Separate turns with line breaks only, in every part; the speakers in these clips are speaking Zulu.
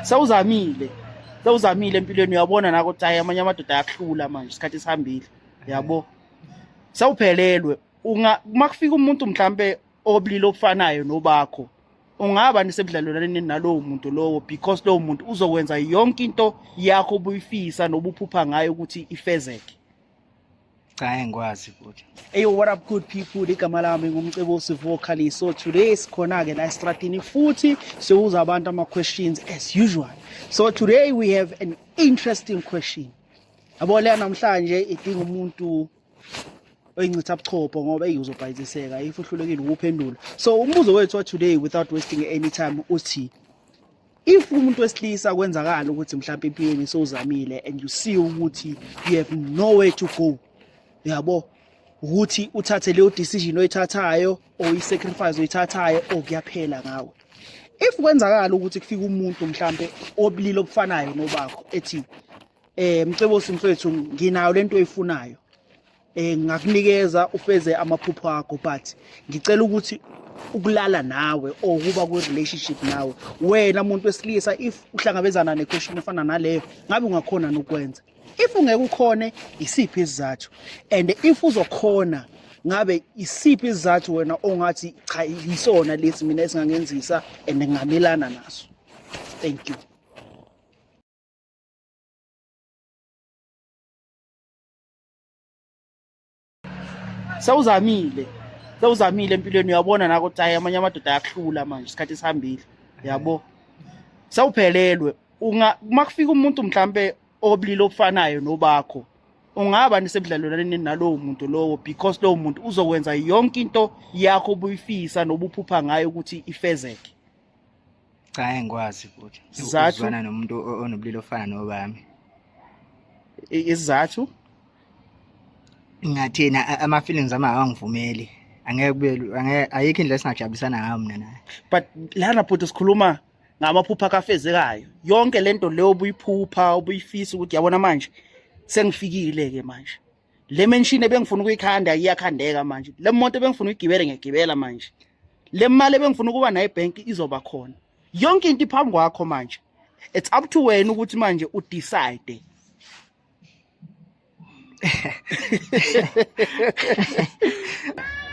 sewuzamile sewuzamile empilweni uyabona nako ukuthi hayi amanye amadoda ayakuhlula manje isikhathi sihambile yabo sewuphelelwe uma kufika umuntu mhlampe obulili obufanayo nobakho ungaba nisebudlalelwaneni nalowo muntu lowo because lowo muntu uzokwenza yonke into yakho obuyifisa nobuphupha ngayo ukuthi ifezeke
cha engikwazi futhi Hey, what up good
people? Igama lami ngumcebo Sivuo Khali. So today sikhona ke la estradini futhi sibuza abantu ama questions as usual. So today we have an interesting question. Yabo le namhlanje idinga umuntu oyincitha buchopho ngoba eyi uzobhayiziseka if uhlulekile ukuphendula. So umbuzo wethu wa today without wasting any time uthi if umuntu wesilisa kwenzakala ukuthi mhlawumbe empilweni sowuzamile and you see ukuthi you have nowhere to go yabo ukuthi uthathe leyo decision oyithathayo or i-sacrifice oyithathayo or kuyaphela ngawe if kwenzakala ukuthi kufika umuntu mhlambe obulili obufanayo nobakho ethi eh mcebo simfethu nginayo lento oyifunayo eh ngakunikeza ufeze amaphupho akho but ngicela ukuthi ukulala nawe or ukuba ku relationship nawe wena muntu wesilisa if uhlangabezana ne question efana naleyo ngabe ungakhona nokwenza if ungeke ukhone isiphi isizathu and if uzokhona ngabe isiphi isizathu wena ongathi cha yisona lesi mina esingangenzisa and ngamelana naso thank you sewuzamile sewuzamile empilweni uyabona nako ukuthi hayi amanye amadoda ayakuhlula manje isikhathi esihambile yabo sawuphelelwe uma kufika umuntu mhlampe obulili obufanayo nobakho ungaba nisebudlalelwaneni nalowo muntu lowo because lowo muntu uzokwenza yonke into yakho obuyifisa nobuphupha ngayo ukuthi ifezeke cha
ngeke ngikwazi futhi Sizathu? ukuzwana nomuntu o- onobulili ofana nobami I- isizathu
ngathina
a- ama-feelings ami awangivumeli angeke kube lu- angeke- ayikho indlela esingajabulisana ngayo mina naye but lana
bhuti sikhuluma ngamaphupha kafezekayo yonke lento leyo obuyiphupha obuyifisa ukuthi yabona manje sengifikile-ke manje le menshini ebengifuna ukuyikhanda iyakhandeka manje le moto ebengifuna uyigibele ngiyagibela manje le mali ebengifuna ukuba nayo ebhenki izoba khona yonke into iphambi kwakho manje it's up to wena ukuthi manje u decide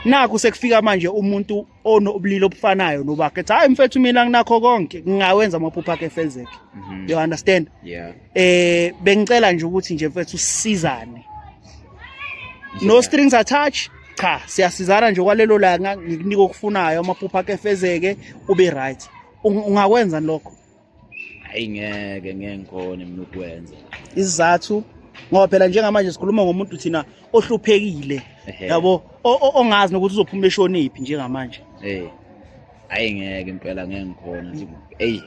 naku sekufika manje umuntu onobulili obufanayo nobakhe ethi hayi mfethu mina nginakho konke ngingawenza amaphupho akhe efezeke mm -hmm. you understand yeah. eh
bengicela
nje ukuthi nje mfethu sisizane no strings attached cha siyasizana nje kwalelo langa ngikunika okufunayo amaphupho akhe efezeke ube right ungakwenza lokho hayi
ngeke ngeke ngikhone mina ukwenza isizathu
ngoba phela njengamanje sikhuluma ngomuntu thina ohluphekile yabo ongazi nokuthi uzophuma eshoniphi njengamanje eh hayi
ngeke impela ngeke ngikhona eyi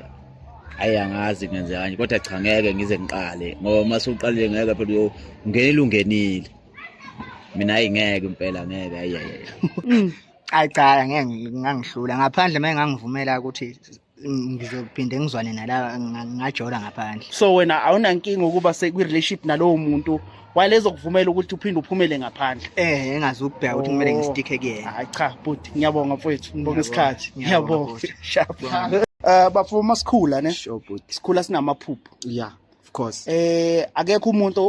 hayi angazi ngenze kanje kodwa cha ngeke ngize ngiqale ngoba uma suqalile ngeke phela ungenile ungenile mina hayi ngeke impela ngeke hayi hayi mm. hayi
cha ngeke ngangihlula ngaphandle uma ngangivumela ukuthi ngizophinde ngizwane nala ngajola ngaphandle so wena awunankinga
ukuba sekwi-relationship nalowo muntu walezo kuvumela ukuthi uphinde uphumele ngaphandle eh engazi ukubheka
ukuthi kumele oh. ngistikhe kuyena hayi cha bhuti
ngiyabonga mfowethu ngibonga isikhathi ngiyabonga um eh, bafo uma sikhula ne sikhula
sinamaphupho
ya of
course eh akekho umuntu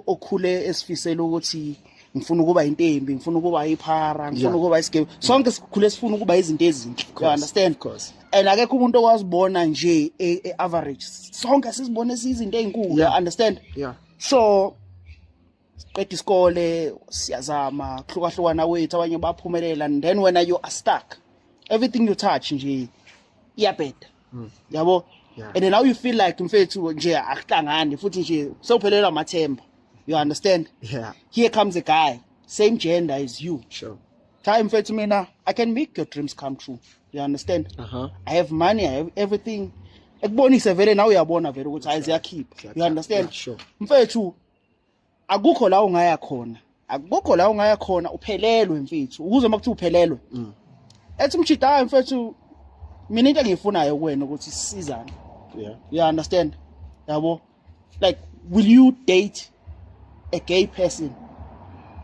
okhule esifisela ukuthi ngifuna ukuba intembi ngifuna ukuba iphara ngifuna ukuba isigebe sonke sikhule sifuna ukuba izinto ezinhle you understand of course and
akekho umuntu okwazi
bona nje e, e average sonke sizibone sizinto ezinkulu you understand yeah so siqeda isikole siyazama kuhlukahlukana wethu abanye baphumelela and then wena you are stuck everything you touch nje iyabheda hmm. yabo yeah. and now you feel like mfethu nje akuhlangani futhi nje sewuphelelwa amathemba you understand yeah. here comes
a guy
same gender as you sure. time
mfethu mina
i can make your dreams come true you understand uh -huh. i have money i have everything ekubonise vele nawe uyabona vele ukuthi hayi ziyakhipha you understand yeah, sure. mfethu akukho la ungaya khona akukho la ungaya khona uphelelwe mfethu ukuze uma kuthi uphelelwe mm. ethi umjida hayi mfethu mina into engiyifunayo kuwena ukuthi sizane yeah you
understand
yabo like will you date a gay person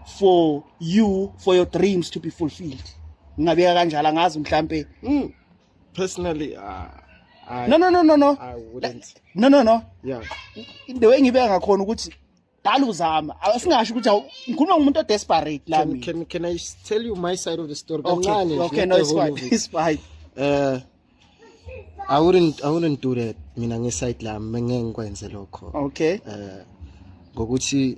for you for your dreams to be fulfilled ngingabeka kanjalo angazi mhlambe mm. personally uh, I, no no no no no I wouldn't
no no no yeah the way ngibeka
ngakhona ukuthi dala uzama asingasho ukuthi ngikhuluma ngomuntu odesperate la mina can can i tell you
my side of the story kancane okay, okay no it's
fine it's fine uh i
wouldn't i wouldn't do that mina nge side la ngeke ngikwenze lokho okay uh
ngokuthi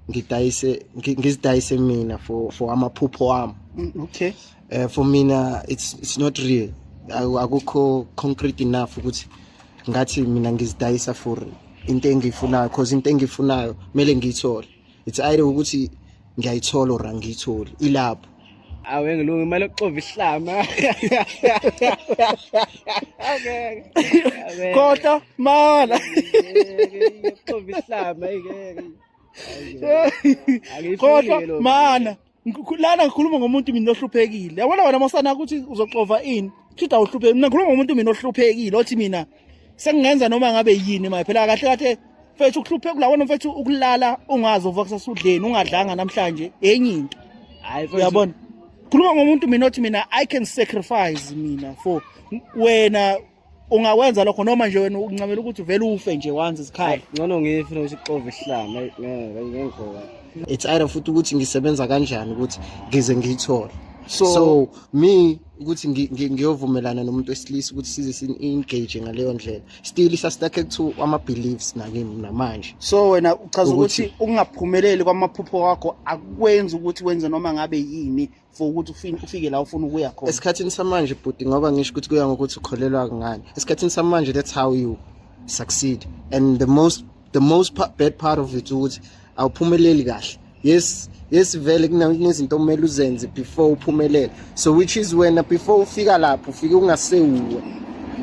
ngidayise ngizidayise mina for for amaphupho wami mm, okay
uh, for mina
it's, it's not real akukho concrete enough ukuthi ngathi mina ngizidayisa for into engiyifunayo cause into engiyifunayo kumele ngiyithole it's either ukuthi ngiyayithola or angiyitholi ilapho awe ngilunga
imali yokuxova ihlama
kodwa mala yokuxova
ihlama kodwa mana
lana ngikhuluma ngomuntu mina ohluphekile yabona wena mosana ukuthi uzoxova ini shida uhluphekile mina ngikhuluma ngomuntu mina ohluphekile othi mina sengingenza noma ngabe yini maye phela kahle kahle mfethu ukuhluphe kulawona mfethu ukulala ungazi uvuka kusasudleni ungadlanga namhlanje enye into hayi uyabona khuluma ngomuntu mina othi mina i can sacrifice mina for wena ungakwenza lokho noma nje wena uncamela ukuthi uvele ufe nje wanzi isikhayi ngcono ngifuna ukuthi
xove isihlama ngeke ngengikhoka it's either
futhi ukuthi ngisebenza kanjani ukuthi ngize ngiyithole so, so me ukuthi ngiyovumelana nomuntu wesilisa ukuthi size si-engage ngaleyo ndlela still isastakhe kuthiwa ama-beliefs nakimi namanje so wena uchaza
ukuthi ukungaphumeleli kwamaphupho wakho akwenzi ukuthi wenze noma ngabe yini for ukuthi ufine ufike la ufuna ukuya khona esikhathini samanje bhuti
ngoba ngisho ukuthi kuya ngokuthi ukholelwa kungani esikhathini samanje that's how you succeed and the most the most bad part of it ukuthi awuphumeleli kahle yes yes vele kunezinto okumele uzenze before uphumelele so which is wena before ufika lapho ufike ungasewuwe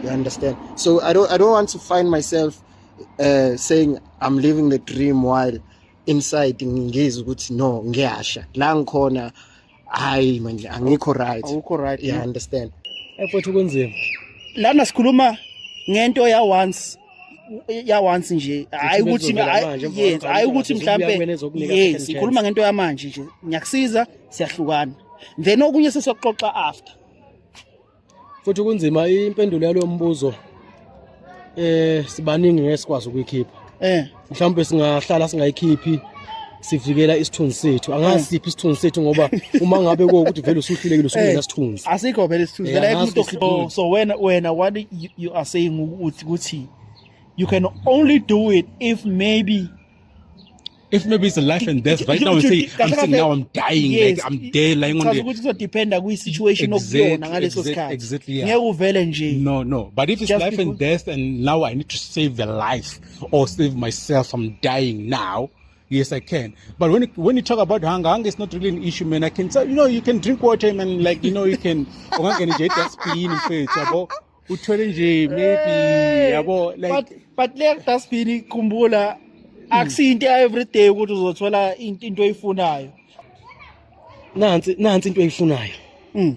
you understand so i don't i don't want to find myself uh, saying i'm living the dream while inside ngizwe ukuthi no ngiyasha la ngikhona hayi manje angikho right awukho right yeah understand efethu kunzima
lana sikhuluma
ngento ya once ya once nje hayi ukuthi yes hayi ukuthi mhlambe yes sikhuluma ngento yamanje nje ngiyakusiza siyahlukana then okunye sesoxoxa after
futhi kunzima impendulo yalo mbuzo eh sibaningi ngeke sikwazi ukuyikhipha eh mhlawumbe singahlala singayikhiphi sivikela isithunzi sethu angazi eh. siphi isithunzi sethu ngoba uma ngabe ukuthi vele usuhlulekile usungena eh. sithunzi asikho vele isithunzi eh, vele
umuntu so wena wena what you are saying ukuthi ukuthi you can only do it if maybe
if maybe it's a life and death right now say i'm saying now i'm dying yes. like i'm dead like
ngoba
ukuthi kuzodependa
kwi situation okuyona ngaleso sikhathi exactly yeah. ngeke uvele
nje
no no but if it's Just
life and death and
now
i need to save the life or save myself i'm dying now Yes, I can. But when when you talk about hunger, hunger is not really an issue, man. I can tell you know you can drink water, man. Like you know you can. uthwele nje maybe yabo but like but le dustbin
ikhumbula akusiyinto everyday ukuthi uzothola into into oyifunayo
nansi nansi into oyifunayo mm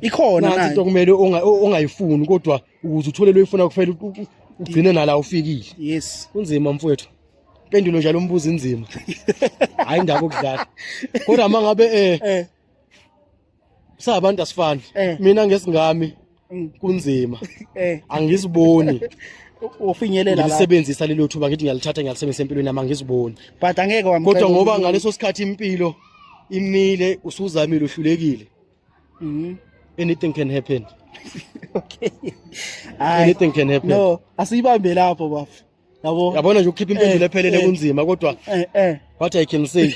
ikhona nansi into nayo kumele
unga- ungayifuni kodwa ukuze uthole loyifuna kufanele u- u- ugcine nala ufikile yes kunzima
mfowethu
pendulo njalo umbuzo inzima hayi ndaba okudlala kodwa mangabe eh eh sabantu asifani eh. mina ngesingami mm. kunzima eh. angisiboni
ufinyelela la sebenzisa lelo thuba ngithi
ngiyalithatha ngiyalisebenzisa empilweni yami angiziboni but angeke wamcela kodwa
ngoba ngaleso sikhathi
impilo imile usuzamile uhlulekile mhm anything can happen okay anything can happen no asiyibambe
lapho bafu yabo yabona nje ukhipha
impendulo eh, ephelele eh. kunzima kodwa eh eh what i can say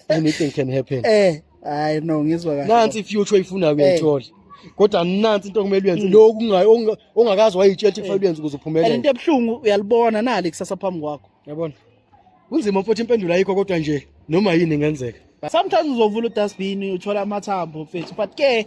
anything can happen eh hayi no
ngizwa kahle nansi future oyifuna
uyayithola eh. kodwa nansi into okumele uyenze mm. lo kungayo ongakazi wayitshela ukuthi kufanele uyenze ukuze uphumelele into ebuhlungu uyalibona
nali kusasa phambi kwakho yabona
kunzima mfowethu impendulo ayikho kodwa nje noma yini ingenzeka sometimes uzovula
udustbin uthola amathambo mfethu but ke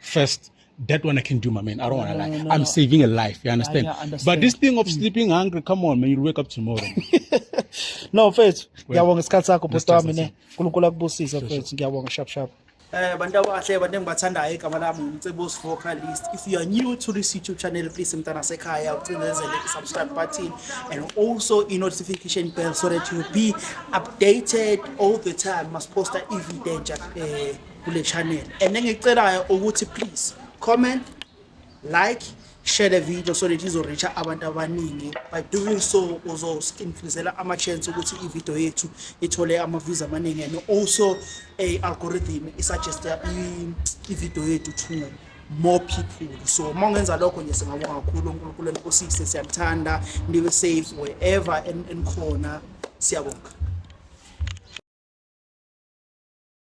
first that one I can do, my man. I don't want to lie. No, I'm no. saving a life. You understand? Yeah, yeah, understand? But this
thing
of hmm.
sleeping
hungry, come on, man. You'll wake up tomorrow.
no, mfethu. Ngiyabonga isikhathi sakho bhuti wami ne. Nkulunkulu akubusise mfethu. Ngiyabonga sharp sharp. Eh bantu abahle abantu engibathandayo igama lami ngumcebos vocalist if you are new to this youtube channel please mntana sekhaya ucinezele i-subscribe button and also i-notification bell so that you be updated all the time must posta i-video entsha eh kule channel and engicelayo ukuthi please comment like share the video so that izoreacha abantu abaningi by doing so uzo-influenzela ama-chance ukuthi ividiyo yethu ithole ama-views amaningi and also i-algorithm isuggesta ividiyo yethu to more people so uma ungenza lokho nje singabonga kakhulu unkulunkulu enkosise siyakuthanda nibe safe wherever enikhona siyabonga